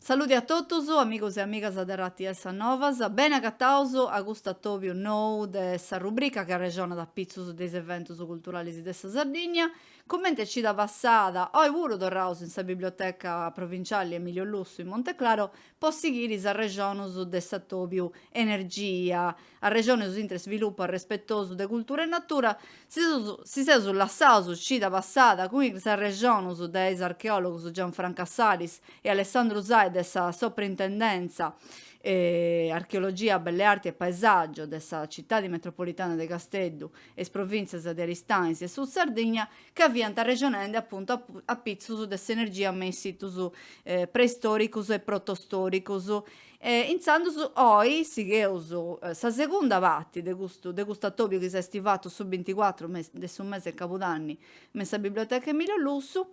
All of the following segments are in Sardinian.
Saluti a totus, amigos e amigas de Rts Sas Novas, bene agataus a custu atobiu nou de sa rubrica chi arrexonat apitzus de is eventus culturalis de sa Sardigna. Comente cida passada, oi puru torraus in sa Biblioteca Provinciali Emilio Lussu in Monteclaro po sighiri is arrexonus de s'atobiu, energia, arrexonus intre svilupu arrespetosu de cultura e natura, si seus si seus lassaus cida passada cun is arrexonus de is archeologus Gianfranca Salis e Alessandru Usai de sa Soprintendenza Archeologia, Belle Arti e Paesaggio de sa Citadi Metropolitana de Casteddu e is Provinzias de Aristanis e Sud Sardigna, ca fiant arrexonende apuntu a pitzus de s'energia me in situs preistòricus e protostòricus. E intzandus oi sigheus sa segunda parti de custu de custu atòbiu chi s'est fatu su binticuatru de su mese de cabudanni me in sa biblioteca Emilio Lussu,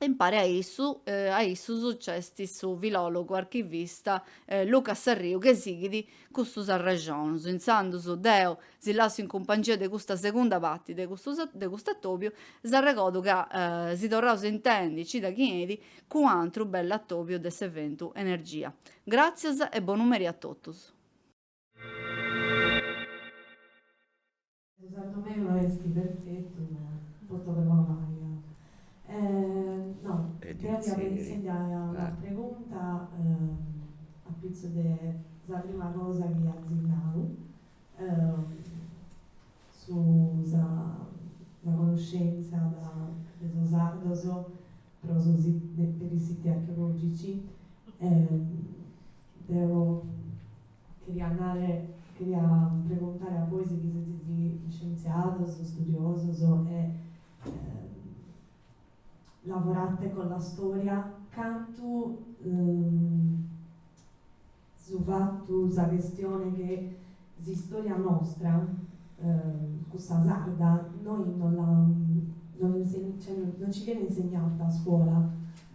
Impare a issu a issus nc'est su filòlogu archivista Luca Sarriu chi sighit custus arrexonus. Intzandus deu si lassu in cumpangia de custa segunda parti de custu de custu atobiu, s'arregodu ca si torraus a intendi cida chi 'enit cun u'antru bellu atobiu de s'eventu Energia. Gràtzias e bonu merì a totus. Su sardu meu no est perfetu ma pro totu est bona paga. No, deo fia pro intzendai a una pregunta a pitzus de sa prima cosa chi azis nau, su sa connoscenza de sos sardos pro su, per i siti archeologici, deo Cheria nare, cheria pregontare a bois chi setzis iscientziados, studiosos e lavorate con la storia, cantu su fatu, sa chestione che s'istoria nostra, cussa sarda, noi non la non inse cioè non ci viene insegnata a scuola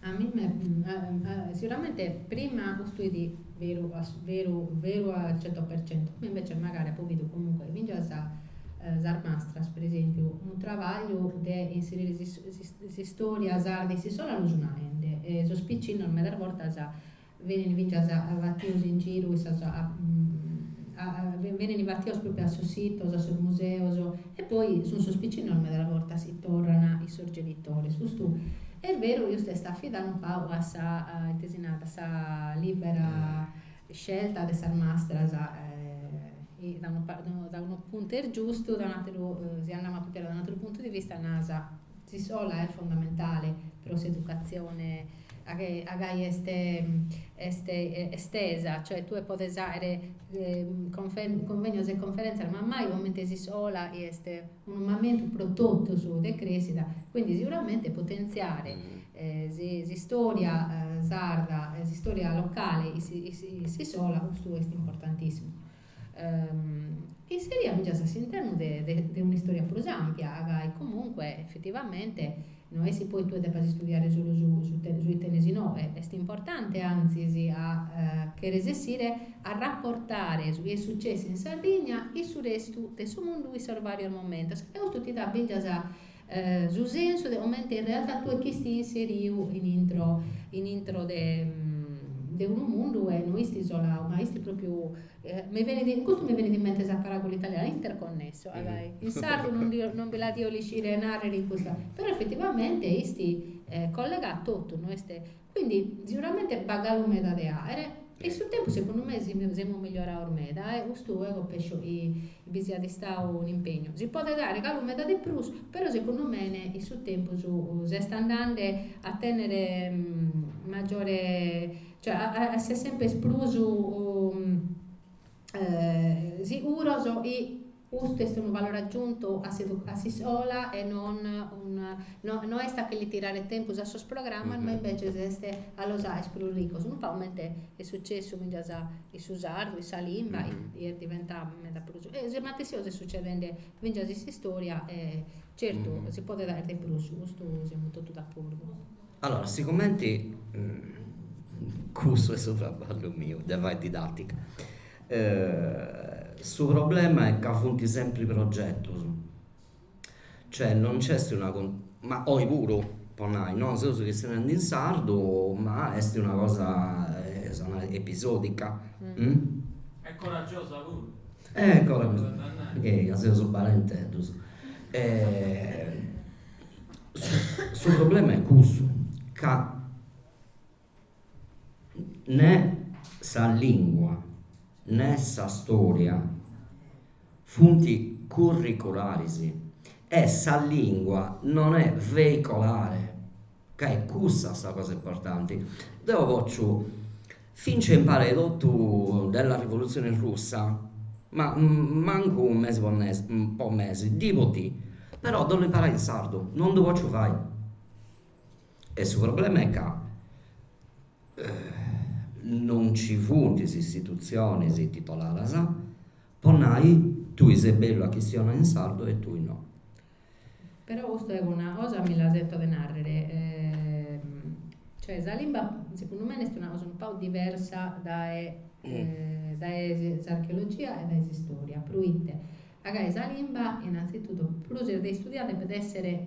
A mi me sicuramente prima custu fit veru veru veru al cento per cento, como invece magari apo bidu comunque fingias sas mastras per esempiu unu trabagliu de inserire s'istoria sarda in s'iscola lu sun aende e sos piccinnos medas bortas Benint fintzas batidos in giru in sas benint batidos pròpiu a sos sitos, a sos museos, e poi sunt sos picinnos meda de bortas chi torran chin sos genitores. Custu est beru chi custu est afidadu un pagu a sa, ite si narat, a sa libera scelta de sas mastras chi da unu puntu est giustu, da un'ateru, si andamus a cumpidare da un'ateru puntu di vista, nasa S'iscola est fondamentale pro s'educatzione a gai est est estesa, cioè tue podes àere cunvegnos e conferèntzias, ma mai comente s'iscola chi est unu mamentu pro totus de crèschida, quindi seguramente potentziare s'istòria sarda, s'istòria locale in s'iscola custu est importantissimu. Inseria fintzas a s'internu de de un'istòria prus àmpia, gai comunque effetivamente no est chi poi tue depas istudiare solu su su chi tenes inoghe, est importante antzis a che resessire a raportare su chi est sucessu in Sardigna chin su restu de su mundu in sos vàrios momentos e custu ti dat fintzas su sensu de comente in realtà tue ch'isti inseriu in intro, in intro de, de unu mundu e no isti isolau, ma isti propriu, mi benit, in custu mi benit in mente sa paràgula italiana, interconnesso, agai, in sardu non ndi 'o, non bi la dio riuscire a narrere in custa, però effettivamente isti collegau totu, no est Quindi siguramente b'at galu meda de àere in su tempus segundu me semus migliorados meda e custu eo pesso chi bi siat istadu un'impegnu. Si podet àere galu meda de prus, però segundu me in su tempus s'est andende a tènnere maggiore, cioè a essere semper prus siguros chi Custu est unu valore agiuntu a s'iscola e non no est a che li tirare tempus a sos programmas ma imbeces est a los aer prus ricos, unu pagu comente est sucessu fintzas in su sardu, in sa limba, est diventau meda prus, e sa matessi cosa est sucedende fintzas in s'istória e certu si podet aer de prus, su custu semus totus d'acordu. Allora, sigumenti cussu est su traballu miu de fai didatica Su problema est ca funt sempri progetus, cioè non nc'est una con ma oi puru po nai, no, seus chistionendi in sardu ma est una cosa sa nai episodica e coragiosa puru e coragiosa seus balenteddus su problema est cussu ca Nè sa lìngua nè sa stòria funt curricularis e sa lìngua non est veicolare, ca est cussa sa cosa importanti. Deu potzu fintzas imparai totu de sa rivolutzioni russa, ma mancu unu mesi po mesi, po mesi, dì po dì, però ddu 'ollu imparai in sardu, non ddu potzu fai E su problema est ca non nci funt is istitutzionis titoladas po nai, tui ses bellu a chistionai in sardu e tui no. Però custa est una cosa, mi la sento de narrer, cioè sa limba segundu mei est una cosa un pagu diversa dae dae s'archeologia e dae s'istoria, proite? Agai sa limba innanzitutto prus de istudiare depet esser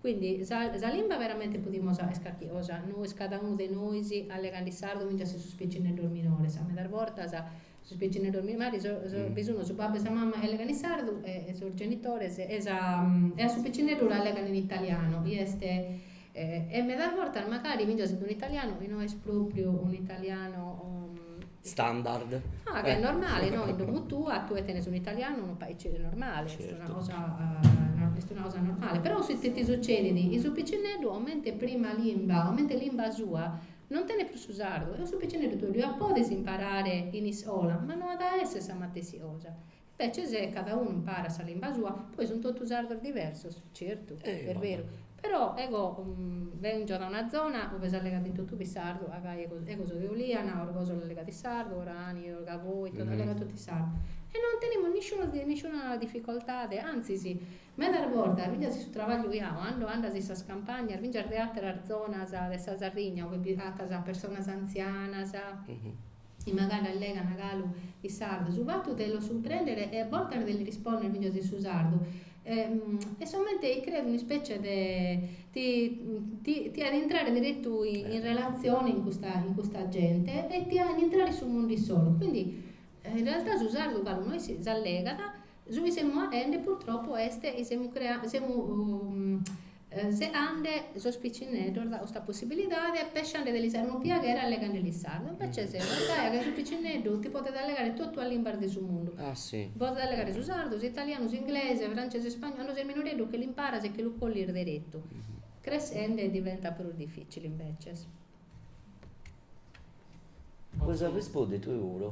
Quindi sa limba veramente podimus fàcher carchi cosa, nois cada unu de nois allegande sardu fintzas a sos picineddos minores, medas bortas sos picineddos minores bi sun su babbu e sa mama chi allegant in sardu e sos genitores e sa e a su picineddu l'allegant in italianu chi est e medas bortas magari fintzas in un'italianu chi no est pròpriu un'italianu standard. Ah, ca est normale, no, in domu tua tue tenes un'italianu, unu paicere normale, est una cosa est una cosa normale, però ite ti sucedit, chi su picineddu comente prima limba, comente limba sua, non tenet prus su sardu e su picineddu tue lu podes imparare in iscola, ma no at a esser sa matessi cosa Petzi si cada unu imparat sa limba sua, poi sun totu sardos diversos, certu, est beru, però ego benzo da una zona ue s'allegat in totue in sardu, agai ego ego so de Oliana, Orgòsolo allegat in sardu, Orani, Gavoi, allegant totu in sardu, e non tenemus nisciunu nisciuna dificoltade, antzis medas bortas finzas in su trabagliu iau cando andas in sas campagnas finzas de ateras zonas de sa Sardigna ue b'agatas personas anzianas Chi magari allegant galu in sardu. Su fatu de los cumprèndere e a bortas de lis rispònnere finas in su sardu est somente e creat un'ispècie de ti ti ti fachet intrare deretu in relatzione cun custa cun custa gente e ti fachet intrare in su mundu issoro. Quindi in realtà su sardu galu nois s'allegat, su chi semus fachende purtroppo est chi semus crea semus Segande sos picinneddos dae custa possibilidade, pessande de lis fàcher unu piaghere allegande lis sardu. Imbeces semus dae che su picinneddu ti podet allegare totu sas limbas de su mundu. Podet allegare su sardu, s'italianu, s'inglese, francese, spagnolu. Cando ses minoreddu che l'imparas e che lu collis deretu, cressende diventat prus dificili imbeces. Potzu arrespundi deu puru?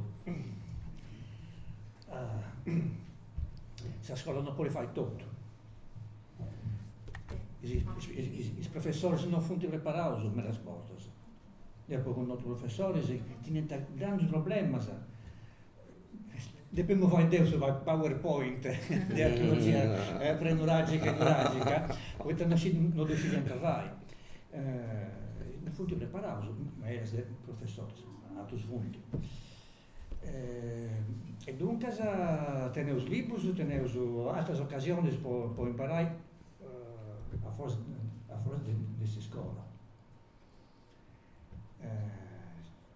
Sa scola non podit fai totu, is professoris non funt preparaus medas bortas, deu apu connotu professoris chi teniant grandu problemas Depemu fai deu su power point de archeologia prenuragica e nuragica, poita no si no ddu scidiant fai. No funt preparaus medas de professoris, aterus funt. E duncas teneus liburus, teneus ateras ocasionis po po imparai a foras a foras de s'iscola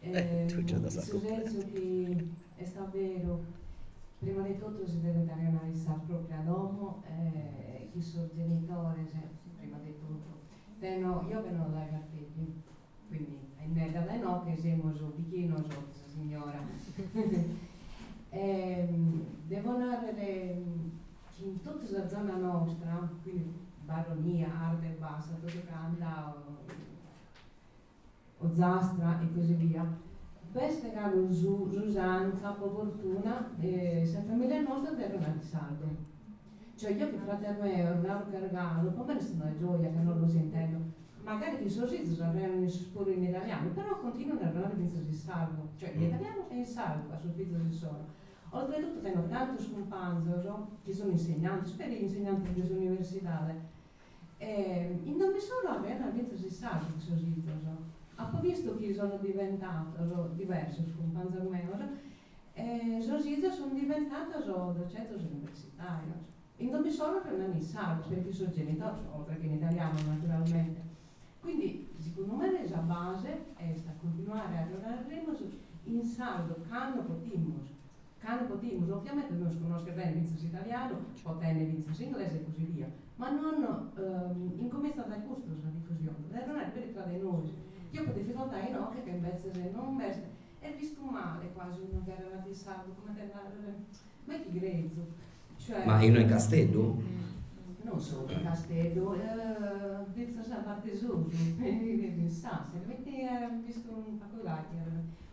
In su sensu chi est a beru, prima de totu si devet arrejonare in sa pròpria domo e chi sos genitores, prima de totu, benzo, eo benzo dai Garteddi, quindi innedda dae inoche semus bighinos de sa signora e devo narrer chi in totu sa zona nostra, quindi Baronia, Arta e Bassa, totu ca andau Ozzastra e così via, b'est galu su s'usanza, po fortuna, de sas famìlias nostras de arrejonare in sardu. Cioè, jeo chin frates meos, galu ch'est galu, po mei est una gioja cando los intendo, magari chi sos izos arrejonan issos puru in italianu, però continuan a arrejonare fintzas in sardu, cioè in italianu e in sardu, a sos fizos issoro. Oltretutto tenzo tantos cumpanzos chi sono insegnantes, peri insegnantes de s'universidade, E in domo issoro arrejonan fintzas in sardu chin sos izos. Apo vistu chi sono diventatos diversos cumpanzos meos e sos izos sun diventatos docentes universitarios. In domo issoro arrejonan in sardu, peri chin sos genitores, oltre che in italianu naturalmente. Quindi segundu mei sa base est a continuare a arrejonaremus in sardu cando potimus. Cando podimus, oviamente nois connoschere bene fintzas italianu, e potende fintzas inglesu e così via, ma non incomintzat dae custu sa difusione, dae arrejonare prus tra de nois, chi apu dificoltà inoche ca imbetzes non b'est, est vistu male quasi unu chi arrejonat in sardu cumenti a narrer, ma chi grezu, cioè. Ma innoi in Casteddu? Non solu in Casteddu, fintzas a parte sud, in Sassari, poita est vistu in faculdadi chi arrejonant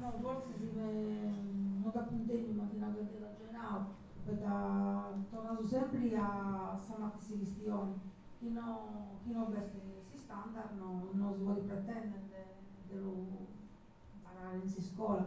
No, fortzis no dd'apu intendiu, m'ant nau ca dd'eus acennau, poita torraus sempri a sa matessi chistioni, chi no chi no b'est s'istandard no no si podit pretendere de de lu imparare in s'iscola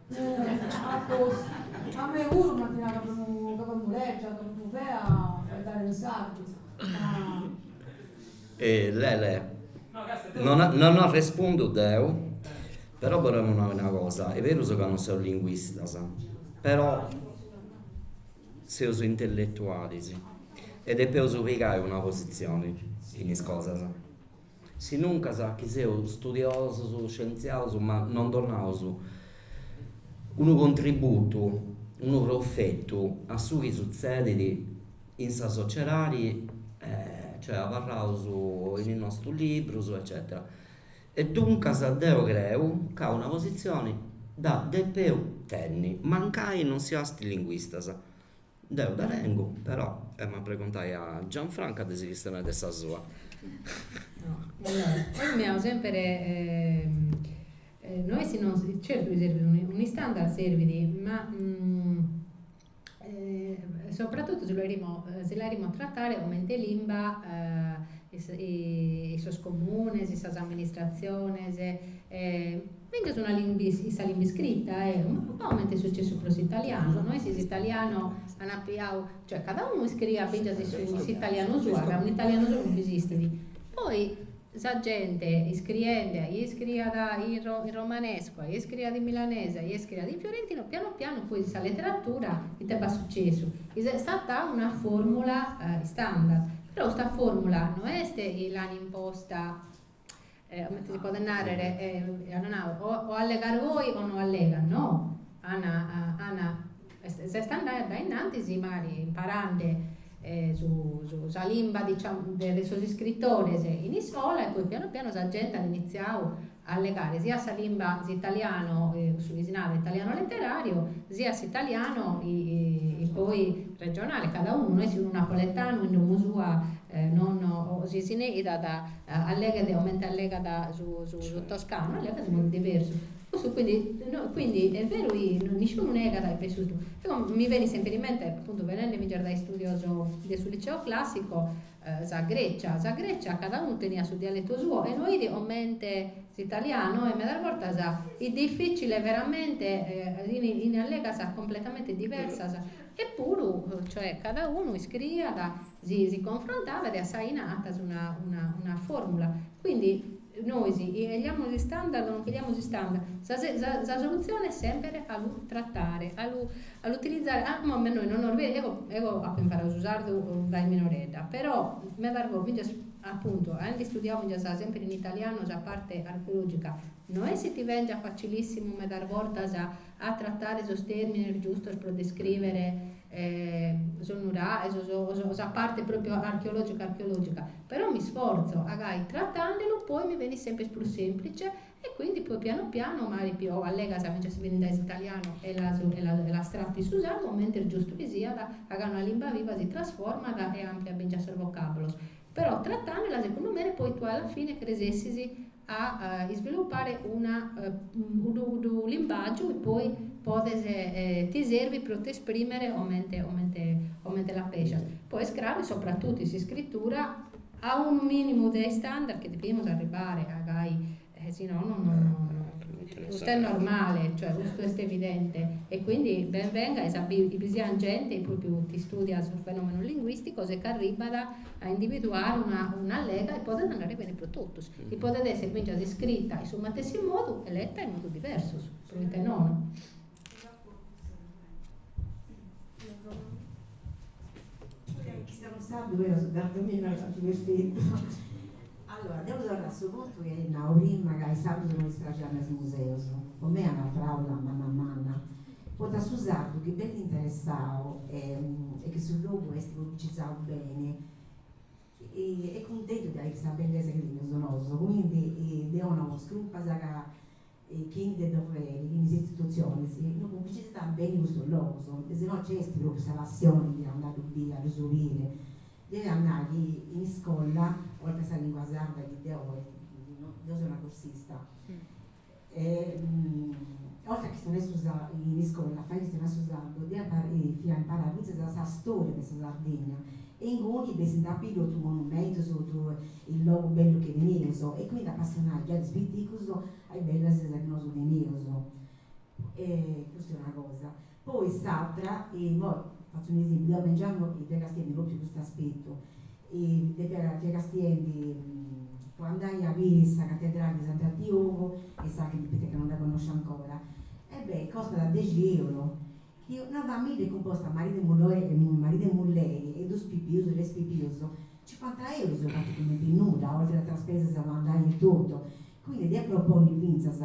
Atos, A mei puru m'ant nau chi unu gabonnu legia totu fea est dare in sardu, ma. Lele, Non non arrespundu deu, però bolemu nai una cosa, est berus ca non seus linguistas, però seus intelletualis e depeus pigai una positzioni in is cosas Sinuncas chi seus studiosus, scientziaus ma non donaus unu contributu, unu profetu a su chi sutzedit in sa sociedadi, cioè abarraus in is nostus librus eccetera. E duncas deu creu ca una positzioni dda depeus tenni, mancai non siaus linguistas. Deu dda tengu, però, emu a preguntai a Gianfranca de si chistionai de sa sua. Deu mi au semper no est no, certu chi serbit unu istandard serbit, ma sopratotu si si l'aerimus a trattare comente limba in sos comunes, sas amministratziones Fintzas una limba, in sa limba iscrita, eum, a comente est sucessu pro s'italianu, no est s'italianu an apiau, cioè cada unu iscriiat fintzas in su s'italianu suo, ca un'italianu solu no esistit. Poi sa gente iscriende, a ie iscriiat in ro in romanescu, a ie iscriiat in milanese, a ie iscriiat in fiorentinu, pianu pianu poi sa leteratura ite b'at sucessu? Is est stata una formula istandard, però custa formula no est chi l'an imposta Comente si podet nàrrere, at nau, o o allegas goi o no allegas. No, an, an, s'est andau a dae innanti si magari imparende su su sa limba diciamu de de sos iscritores in iscola e poi pianu pianu sa gente at initziau a allegare siat sa limba s'italiano cussu chi si narat italiano letterario siat s'italiano poi regionale, cada unu, no est chi unu napoletanu in domo sua non o si si neidat Alleghet comente allegat su toscanu, allegat in modu diversu. Cussu quindi, quindi est beru chi nisciunu negat chi pessu is duus. Mi benit sempiri in mente, apuntu bennendi finzas dae sos istudios de su liceo classico, sa Grecia. Sa Grecia cada unu teniat su dialetu suo e no fit comente s'italianu e medas bortas est dificile veramente, fin allegas completamente diversas. Epuru, cioè, cada unu iscriiat si confrontabat e a sa 'ina atas una formula. Quindi nois eliamus istandard o non cheliamus istandard, sa solutzione est semper a lu tratare, a lu a lu utilizare, a imoi nois non nos eo apu imparau su sardu dae minoredda, però medas bortas finzas apuntu aendi studiau finzas semper in italianu sa parte archeologica no est chi ti bengiat facilissimu medas bortas a tratare sos tèrmines giustos pro descrìvere sos nuraghes o sos o sa parte pròpiu archeològica archeològica, però mi sforzo, agai tratende·lu poi mi benit semper prus sèmplice e quindi poi pianu pianu magari chi sas allegas si benint dae s'italianu e las e las e las trato in su sardu comente est giustu chi siat agai una limba viva si trasformat e ampliat fingias sos vocàbulos, però tratandelas segundu mene poi tue alla fine cresessis a isvilupare una unu limbàgiu poi podes ti servit pro t'esprimere comente comente ti pàrgiat. Poi est craru chi sopratutu in s'iscritura est unu minimu de istandard bi depimus arribare agai si no no no custu est normale cioè custu est evidente e quindi ben venga chi bi siat gente chi propriu ti studiat sos fenomenos linguisticos e ch'arribat a individuare una, una limba chi podet andare bene pro totus, chi podet esser fingias iscrita in su matessi modu e letta in modus diversos, proite nono. Allora, deu torru a su puntu chi nau prima ca a is sardus no ddis praxint is museus, po mei est una fàula manna manna, poita a su sardu chi nd'est interessau e chi su logu est publicizau beni est cuntentu de biri sa bellesa chi teneus nosu, quindi deu nau sa curpa est ca e chi ndi depiant, forsis is istitutzionis no publicitzant beni custus logus, e si no nci est propriu sa passioni de andai a ddu biri, a ddu scoberri. Deu ia a nai chi in iscola, oltre a sa lingua sarda chi deu deu seu una cursista e oltre a chistionai su in iscola a fai chistionai su sardu deu fiau imparai fintzas sa storia de sa Sardigna Inguni biit totu is monumentus, totu logu bellu chi teneus e quindi s'apassionant giai de is piticus a is bellus cosas chi nosu teneus. Custa est una cosa. Poi s'atra, immoi fatzu un esempiu, deu me giangu mi fia castiendi propriu custu aspettu, depia, fia castiendi po andai a biri sa catedrali de Sant'Antiogu e sa cripta ca non dda connosciu ancora, e beh, costat dexi eurus Chi una famìllia cumposta maridu e muloi e maridu e mulleri e duus pipius e tres pipius, cincuanta eurus bandant cumenti nudda, oltre a atras spesas a andai e totu. Quindi deu ia a proponni fintzas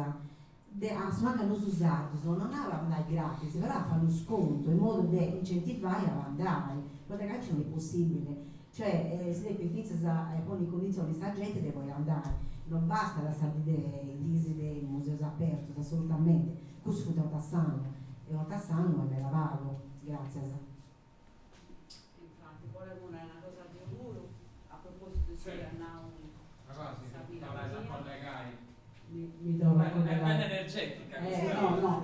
de a su mancus a nosu sardus, no nau a andai gratis, però a fai unu scontu in modu de incentivai a andai, poita ca aici no est possibili Cioè, si depit fintzas ponni in cunditzionis de sa genti de podi andai. Non bastat sa dì de is de museus apertus, assolutamente. Cussu fut un'orta s'annu. E un'orta s'annu est meda pagu. Gràtzias. Infati, bolemu nai una cosa deu puru, a propositu de su chi at nau sa filla mia. Est bella energetica custa.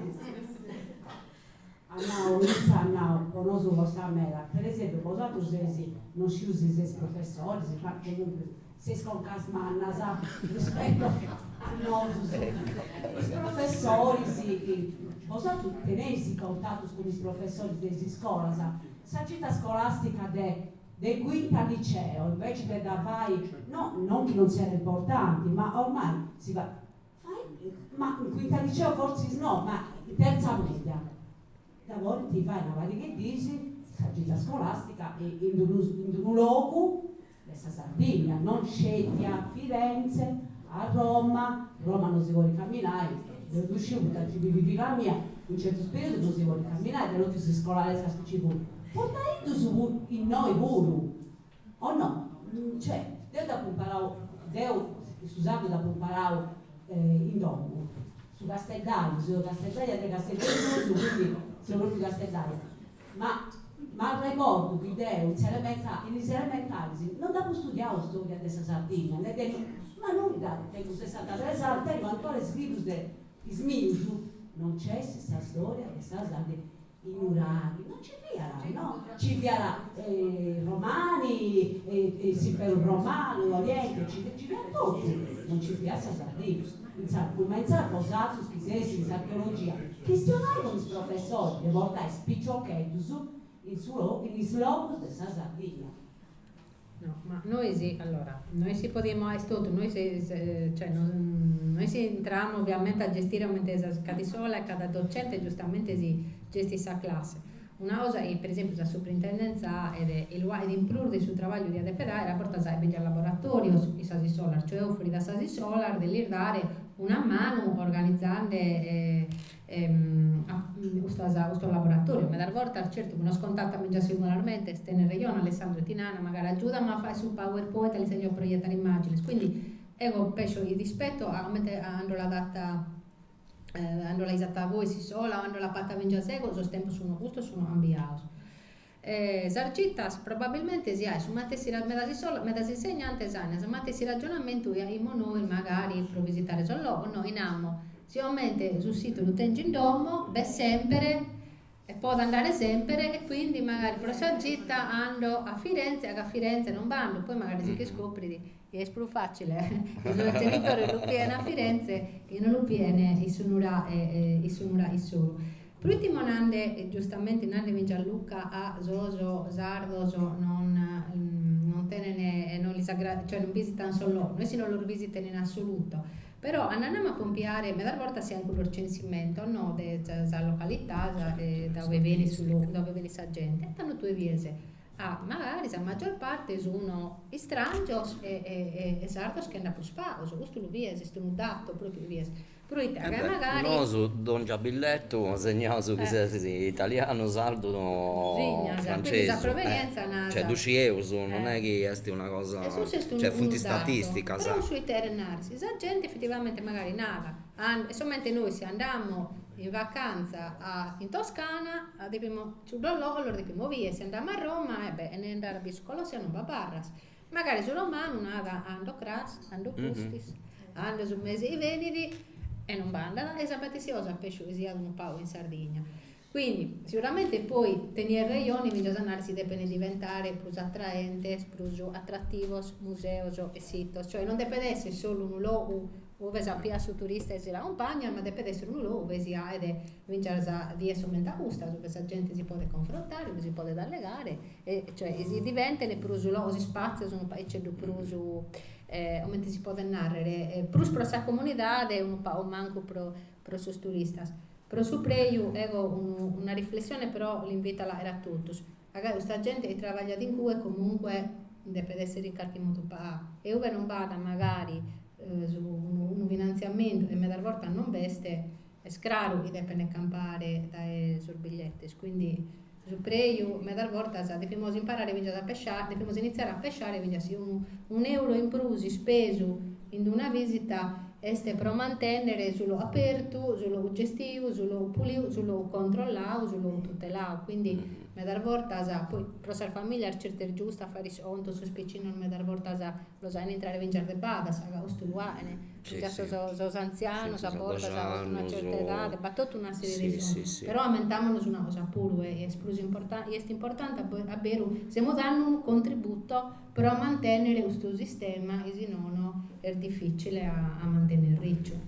At nau, issa at nau, po nosu costat meda, per esempiu, bosatrus seis, no sciu si seis professoris, ma comunque seis concas mannas rispetto a nosus, is professoris, bosatrus teneis contatus cun is professoris de is iscolas, sa gita scolastica de de quinta liceo inveci de dda fai, no, non chi non siat importanti, ma ormai si fait, Ma in quinta liceo fortzis no, ma in tertza media dda podint fai una pariga de dis sa gita scolàstica e in unu in unu logu de sa Sardigna, non sceti a Firenze, a Roma, Roma non si podit caminai, deu ddu sciu poita nci bivit filla mia, in certus periodos non si podit caminai de totus is iscolarescas chi nci funt, portai-ddus puru, innoi puru O no? Cioè, deu dd'apu imparau, deu su sardu dd'apu imparau in domu, su casteddaju, seu casteddaja de Casteddu 'e susu, quindi seu propriu casteddaja, ma m'arregordu chi deu in s'elementari, in is elementaris non dd'apu studiau storia de sa Sardinnia, ne de, ma nudda, tengu sessantatres annus, tengu ancora is librus de is mius, non nc'est sa storia de sa Sardinnia. Is nuraghis no nci fiat, no, nci fiat is Romani, s'Imperu Romanu, Orienti, nci fiat totu, no nci fiat sa Sardigna. Intzà, cumenzai bosatrus chi seis in s'archeologia, chistionai cun is professoris de portai is piciocheddus in su logu, in is logus de sa Sardigna. No, ma nois, allora, nois podimus fàghere totu, nois, cioè, no intramus ovviamente a gestire comente cada iscola e cada docente giustamente si gestit sa classe. Una cosa chi, per esempiu, sa suprintendenza e chi lu faghet in prus de su trabagliu chi at de pedai est a bortas faghet fingias laboratorios in sas iscolas, cioè offerit a sas iscolas de lis dare una manu organizande Custas, custos laboratorios medas bortas, certu chi nos contatant fingias singularmente, tenet rejone Alessandro, e ti narant, magari agiùda·mi a fàghere su power point ca lis chèrgio proietare immagines, quindi ego pesso rispetu a comente cando l'at fata cando l'ais fata bois s'iscola o cando l'apo fata fingias ego, sos tempos sun custos sun cambiados. E sas gitas probabilmente si aet su matessi medas iscolas medas insegnantes an su matessi ragionamentu chi aimus nois magari pro visitare sos logos no in amo sicomente su situ lu tengio in domo b'est semper e podo andare semper e quindi magari pro sa gita ando a Firenze ca a Firenze non b'ando poi magari si ch'iscoprit chi est prus fàcile chi sos genitores lu pien a Firenze e no lu piene in su nurà in su nurà issoro. Pro ùtimo nande, giustamente nande fit Gianluca, a sos sardos non non tenen non lis aggrada cioè non bisitan sos logos, no est chi non los bisiten in assoluto, però andamo a compiare medas bortas si aen cuddos censimentos no de sas localidades de dae ue benit su logu, dae ue benit sa gente e tando tue bides A magari sa maggior parte sun istrangios e e sardos che andat prus paos, custu lu bies, est unu dato pro ite bies, pro ite ca magari. Nosu dongia billettu segnaus chi ses italianu, sardu sa provenienza, cioè ddu scieus, non è chi est una cosa, cioè funt statisticas. Pro su ite cheret nai, si sa genti effettivamente magari nat, est comente nois si andamo in vacanza in Toscana depimus Su dololo de chi moviat si andamu a Roma e beh, chene andare a bier su Colosseo non b'abarras. Magari su romanu narat ando cras, ando pustis, ando su mesi chi benit e non b'andat e sa matessi cosa pescio chi siat unu pau in Sardigna. Quindi, siguramente poi teniat rejoni mi dd'as a nare si depent diventare prus atraentes, prus atrativos museos e sitos, cioè non depet essi solu unu logu Ue si piat su turista e si l'acompagnat, ma depet esser unu logu ue si aet fintzas dies comente a custas, ue sa gente si podet confrontare, ue si podet allegare, e cioè si diventet prus logos, ispatzios unu paiceddhu prus, comente si podet narrer, prus pro sa comunidade e unu pagu mancu pro pro sos turistas. Pro su preju eo unu una riflessione però l'invito a la aer a totus. Ca custa gente chi trabagliat incue comunque depet essere in carchi modu pagà e ue non b'at magari unu finantziamentu e medas bortas non b'est, est craru chi depent campare dae sos bigliettes, quindi su preju medas bortas devimus imparare fintzas a pesciare, devimus initziare a pesciare fintzas si unu euro in prus ispesu in una visita Est pro mantènnere su logu apertu, su logu gestiu, su logu puliu, su logu controllau, su logu tutelau. Quindi medas bortas, poi pro sas famìlias certu est giustu a fai iscontos, sos picinos medas bortas los ain a intrare fintzas de badas, custu lu ain, fintzas sos antzianos a bortas a una certa edade, b'at totu una serie de iscontos. Però ammentamonos una cosa puru, e est prus importanti, est importanti a beru, semus dande unu contributo pro a mantènnere custu sistema chi si nono est difìtzile a a mantènnere riciu.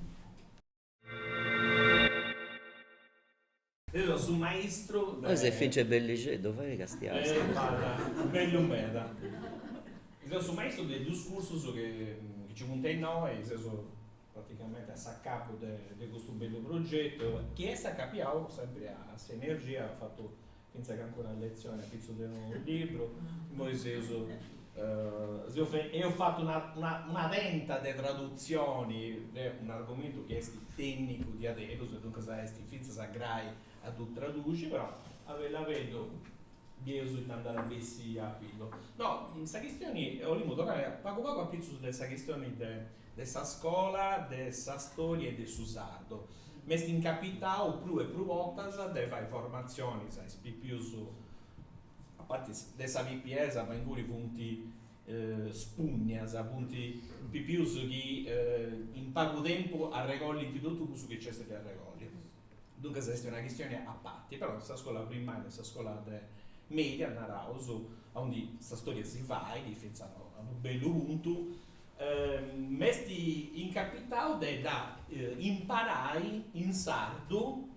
Deo su maistru de. Oi s'est finche bellixeddu, fae castiai sa voce. B'at bellu meda. Seu su maistru de duus cursus chi nci funt innoi, chi seus praticamenti a s'acapu de custu bellu progetu chi est acapiau sempri a s'energia fatu fintzas ca ancora una letzioni apitzu de unu libru, imoi seus seus eus fatu una una una tenta de tradutzioni de un'argomentu chi est tènnicu diaderus e duncas est fintzas a grai a ddu traduxi, però a bellu a bellu bieus ita nd'at a bessi a pillu. No, sa chistioni, 'olimu torrai pagu pagu apitzus de sa chistioni de de sa scola de sa storia e de su sardu, m'est incapitau prus e prus bortas de fai formatzionis a is pipius, a parti de sa pipiesa, ma inguni funt spugnas, funt pipius chi in pagu tempus arregollint totu cussu chi nc'est de arregolli, duncas est una chistioni a parti, però sa scola primaria e sa scola de media, naraus, aundi sa storia si fait, fintzas a unu bellu puntu, M'est incapitau de dda imparai in sardu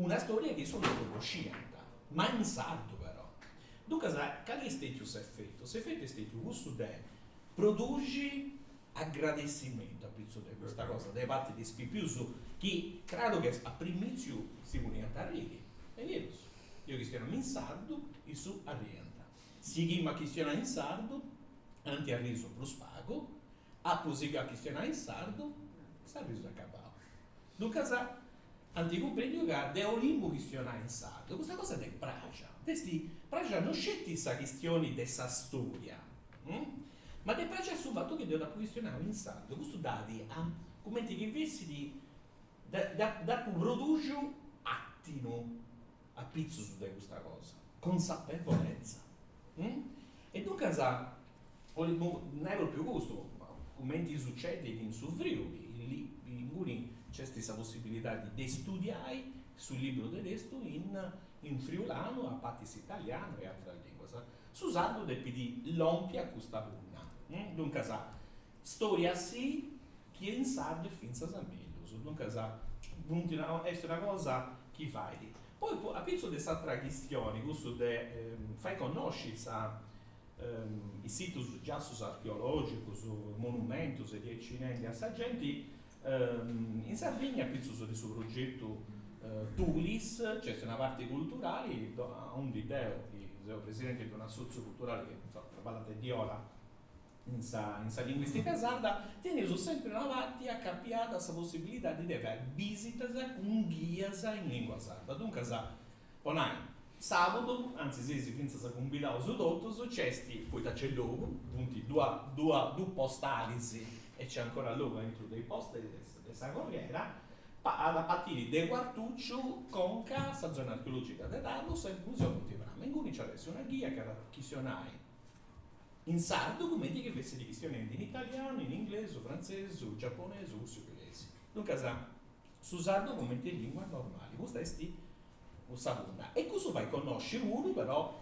una stòria chi issus no connosciant, ma in sardu però. Duncas, cali est stètiu s'efetu? S'efetu est stètiu cussu de produxi agradessimentu apitzus de custa cosa de parti de is pipius chi, craru chi a primìtziu si poniant a arriri, e deu, deu chistionamu in sardu, issus arriant. Sighimu a chistionai in sardu, anti arrisu prus pagu, apu sighiu a chistionai in sardu, s'arrisu est acabau. Duncas, anti cumprendiu ca deu 'olimu chistionai in sardu, custa cosa ddis est praxia, ddis est praxia no sceti sa chistioni de sa storia, ma ddis est praxiu su fatu chi deu dd'apu chistionau in sardu, custu dd'at cumenti chi fessit, dd'apu produxiu atinu apitzus de custa cosa, consapevolezza. E duncas, nai pròpriu custu, cumenti sucedit in su Friuli, inguni nc'est sa possibilidadi de studiai su libru de testu in friulanu a parti de s'italianu e ateras linguas. Su sardu depit lompi a custa punna. Duncas, Storia si chi in sardu est fintzas a mellus, duncas funt una est una cosa chi fait. Poi po apitzus de s'atra chistioni, cussu de fai connosci sa is situs giassus archeologicus, monumentus e diaici nendi a sa genti, in Sardigna apitzus de su progetu Tulis nc'est una parti culturali aundi deu chi seu presidenti de un'assotziu culturali chi insoma traballat de diora In sa linguìstica sarda teneus sèmpiri una parti acapiada a sa possibilidadi de fai bisitas cun ghias in lìngua sarda. Duncas, po nai, sàbudu, antzis seis fintzas cumbidaus totus, nc'est, poita nc'est logu, funt duus postalis e nc'est ancora logu aintru de is postalis de sa Corriera, at a partiri de Cuartucciu conca a sa zona archeològica de Tharros e Monti Prama, inguni nc'at a essi una ghia chi at a chistionai in sardu cumenti chi fessit chistionendi in italianu, in inglesu, frantzesu, giaponesu, russu e ungheresi. Duncas, su sardu cumenti lìngua normali. Custa est sa punna. E cussu fait connosci puru però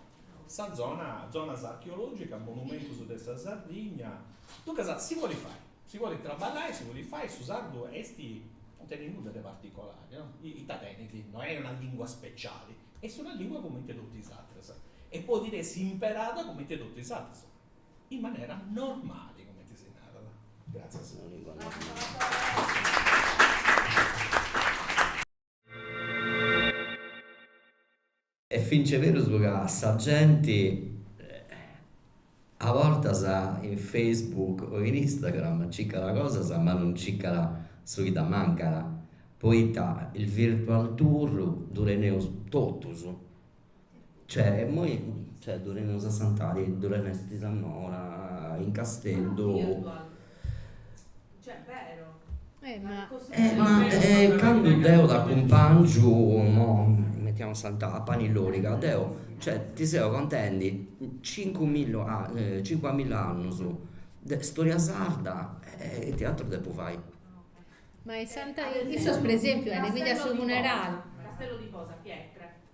sa zona, zonas archeològicas, monumentus de sa Sardigna. Duncas, si bolit fai, si bolit traballai, si bolit fai, su sardu est, non tenit nudda de particolari, no, ita tenit, no est una lìngua speciali. Est una lìngua comente totu is atras e podit essi imperada comente totu is atras, in manera normali, comente si narat. Gràtzias. Est fintzas berus ca sa genti. A bortas in Facebook o in Instagram circat cosas ma non circat su chi dd'ammancat, poita is virtual tour ddu teneus totus. Cioè immoi ddu teneus a Santadi, ddu teneus a Nora, in Casteddu Ma candu deo t'acumpangiu, mo metiamus Santa a Pani Loriga, deo cioè ti seu contendi cincu milla cincu milla annus de storia sarda e ite aturu depu fai.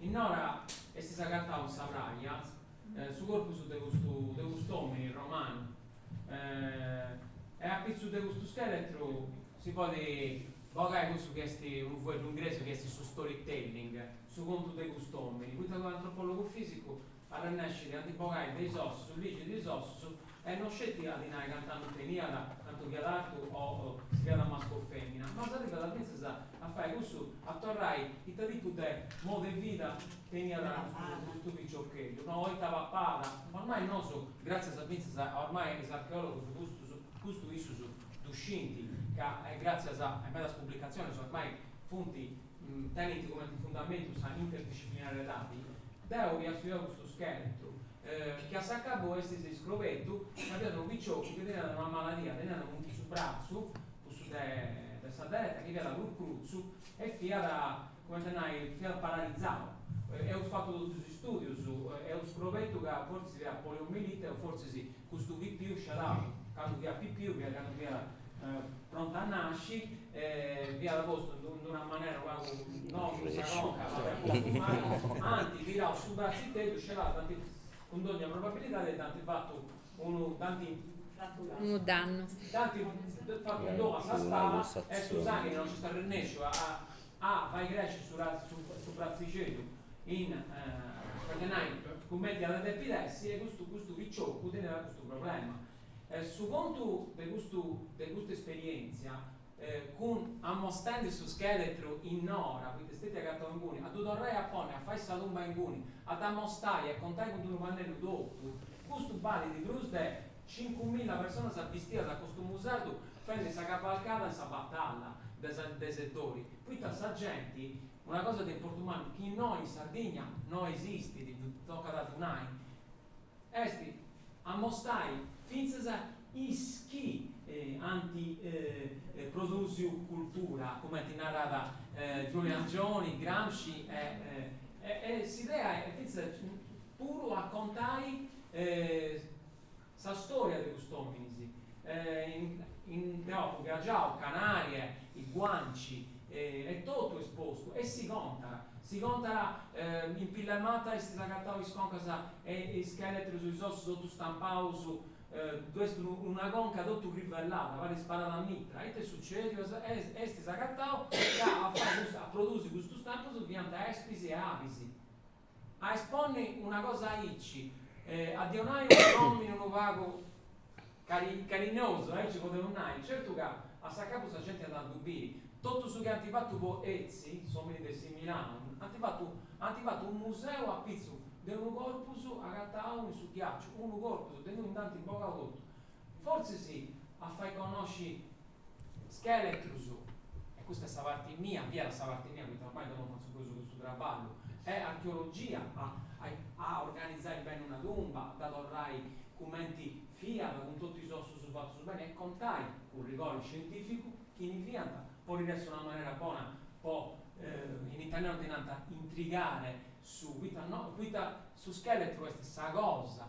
In Nora est s'agatau in sa praja su corpus de custu de cust'omini romanu e a pitzus de custu scheletru si podi bogai cussu chi est unu fueddu ingresu chi est su storytelling, su contu de cust'omini, poita unu antropologu fisicu Arrennescit a ndi bogai de is ossus, a ligi de is ossus e no sceti a ddi nai cant'annus teniat, cantu fiat artu o si fiat mascu o femina, ma s'arribat fintzas a fai cussu, a torrai ita tipu de modu e vida teniat custu piciocheddu, no, o ita papat, ormai nosu, gratzias a fintzas a ormai a is archeologus custus, custu issus ddu scint ca gratzias a medas publicatzionis ormai funt tenint cumenti fundamentu sa interdisciplinariedadi, deu ia studiau custu scheletru, chi a s'acabu s'est iscobertu, ca fiat unu picioccu chi teniat una maladia, teniat in su bratzu, cussu de sa dereta, chi fiat prus crutzu e fiat, cumenti a nai, fiat paralizau. Eus fatu totus is studius, eus scobertu ca fortzis fiat poliomielite o fortzis custu pipiu sciadau, candu fiat pipiu fiat candu fiat prontu a nasci Fiat postu in d'una manera unu pagu, no cun sa conca, ma fiat postu mali, ant tirau su bratziteddu, scedau, dd'ant, cun dogna probabilidadi, dd'ant fatu unu, dd'ant, Unu dannu. dd'ant fatu unu dannu a sa spala e su sanghi non nc'est arrennesciu a a fai cresci su su bratzixeddu in, fatzat a nai, cumenti iat a depi essi e custu custu picioccu teneat custu problema. Su contu de custu de custa esperièntzia cun amostendi su scheletru in Nora, poita est stetia agatau inguni, a ddu torrai a ponni, a fai sa tumba inguni, a dd'amostai e a contai cun d'unu pannellu totu, custu balit prus de cincumilla personas bistias a costumu sardu fendi sa cavalcada in sa batalla de sa de Seddori, poita sa genti, una cosa de importu mannu chi innoi in Sardigna no esistit, tocat a ddu nai, Est a mostai fintzas is chi ant produsiu cultura, cumenti narat Giulio Angioni, Gramsci e s'idea est fintzas puru a contai sa storia de cust'ominis. Deu apu viagiau Canarie, i Guanci, E totu est postu e si contat. Si contat in pillas matas est s'est agatau is concas e is scheletrus is ossus totu stampaus ddu est una conca totu crivellada parit sparada a mitra ita est sucediu s'est agatau ca a fai a produsi custus stampus fiant espis e abis A esponni una cosa aici, a ddi donai unu nòmini unu pagu carinosu, aici podeus nai, certu ca a s'acabu sa genti at a ddu biri, totu su chi ant fatu po Ötzi, s'òmini de Similaun, ant fatu ant fatu unu museu apitzus de unu corpus agatau in su ghiaciu, unu corpus de innui ndi anti bogau totu. Fortzis a fai connosci Scheletros, e custa est sa parti mia, fiat sa parti mia poita ormai deu non fatzu prus custu traballu, e archeologia, a a organizai beni una tumba, a dda torrai cumenti fiat, cun totu is ossus fatus beni, e contai, cun rigori scientificu, chini fiant, podit essi una manera bona po, in italianu ddi narant intrigare su, poita no, poita su scheletru est sa cosa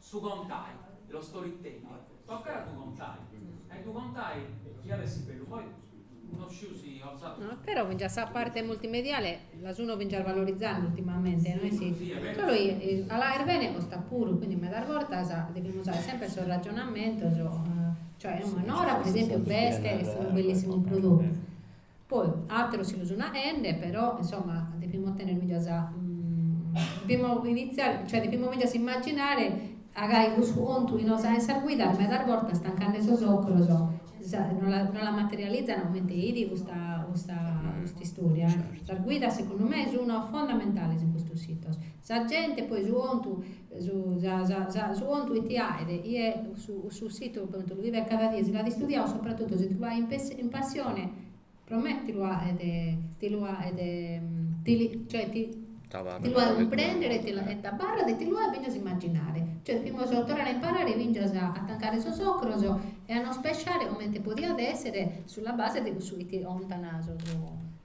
Su contai, lo storytelling, tocat a ddu contai, a ddu contai chi at a essi bellu, poi no sciu si orzat. Però fingias sa parte multimediale la sun fingias valorizende ultimamente, no est chi, solu chi a la aere bene costat puru, quindi medas bortas devimus aer sempre sos ragionamentos, cioè a Nora pro esempiu b'est, est unu bellissimu prodottu Poi ateros si lu sun aende, però insomma depimus tenner medas depimus iniziare, cioè depimus medas immaginare a gai cussu contu chi nos aen sas guidas medas bortas tancande sos ocros no la no la materializan comente 'it custa custa custa istoria eh. Sas guidas segundu me sun fondamentales in custos sitos. Sa gente poi su contu Su contu chi ti aet chie su situ po ite lu bivet cada die, si l'at istudiau sopratutu si ti lu aet chin passione pro me ti lu aet ti lu aet cioè ti lu aet cumprender e t'abarrat e ti lu aet fingias imaginare, cioè devimus torrare a imparare fingias a tancare sos ocros e a nos pesciare comente podiat esser sulla base de cussu chi ti contan sos